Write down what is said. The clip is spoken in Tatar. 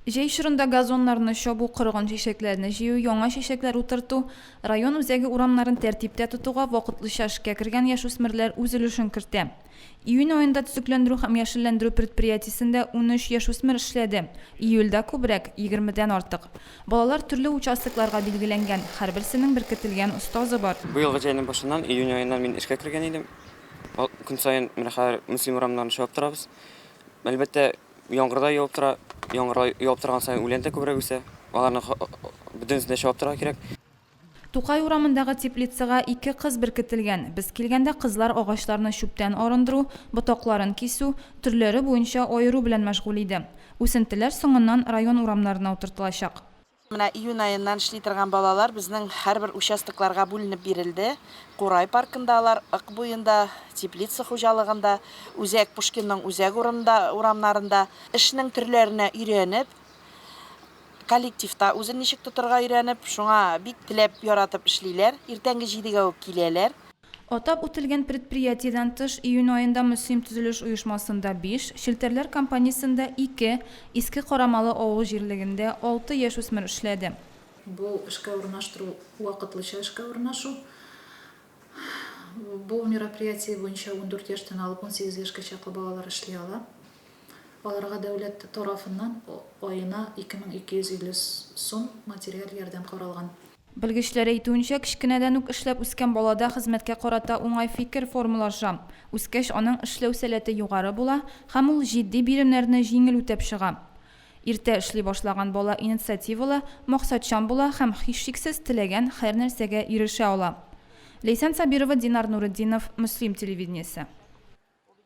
Җәй чорында газоннарны чабу, корыган чәчәкләрне җыю, яңа чәчәкләр утырту, район үзәге урамнарын тәртиптә тотуга вакытлыча эшкә кергән яшүсмерләр үз өлешен кертә. Июнь аенда төзекләндерү һәм яшелләндерү предприятиесендә унөч яшүсмер эшләде, июльдә күбрәк, егермедән артык. Балалар төрле участокларга билгеләнгән, һәрберсенең беркетелгән остазы бар. Бу елгы җәйнең башыннан, июнь аеннан мин эшкә кергән идем. Көн саен менә хәзер Мөслим урамнарын чабып торабыз. Әлбәттә, Яңгырда явып тора. Яңгырда явып торган саен үлән дә күбрәк үсә. Аларны бөтенесен дә чабып торырга кирәк. Тукай урамындагы теплицага ике кыз беркетелгән. Без килгәндә кызлар агачларны чүптән арындыру, ботакларын кисү, төрләре буенча аеру белән мәшгуль иде. Үсентеләр соңыннан район урамнарына утыртылачак. Менә июнь аеннан эшли торган балалар безнең һәрбер участокларга бүленеп бирелде. Курай паркында алар, Ык буенда, Теплица хуҗалыгында, Үзәк Пушкинның үзәк урынында, урамнарында. Эшнең төрләренә өйрәнеп, коллективта үзен ничек тотырга өйрәнеп, шуңа бик теләп, яратып эшлиләр. Иртәнге җидегә үк киләләр. Атап үтелгән предприятиедән тыш, июнь аенда Мөслим төзелеш оешмасында биш, Челтәрләр компаниясендә ике, Иске Карамалы авыл җирлегендә алты яшүсмер эшләде. Бу эшкә урнаштыру вакытлыча эшкә урнашу. Бу мероприятие буенча ундүрт яшьтән алып унсигез яшькә чаклы балалар эшли ала. Аларга дәүләт тарафыннан аена ике мең ике йөз илле сум материаль ярдәм каралган. Белгечләр әйтүенчә, кечкенәдән үк эшләп үскән балада хезмәткә карата уңай фикер формалаша, үскәч аның эшләү сәләте югары була һәм ул җитди биремнәрне җиңел үтәп чыга. Иртә эшли башлаган бала инициативалы, максатчан була һәм, һичшиксез, теләгән һәрнәрсәгә ирешә ала. Ләйсән Сабирова, Динар Нуретдинов, Мөслим телевидениесе.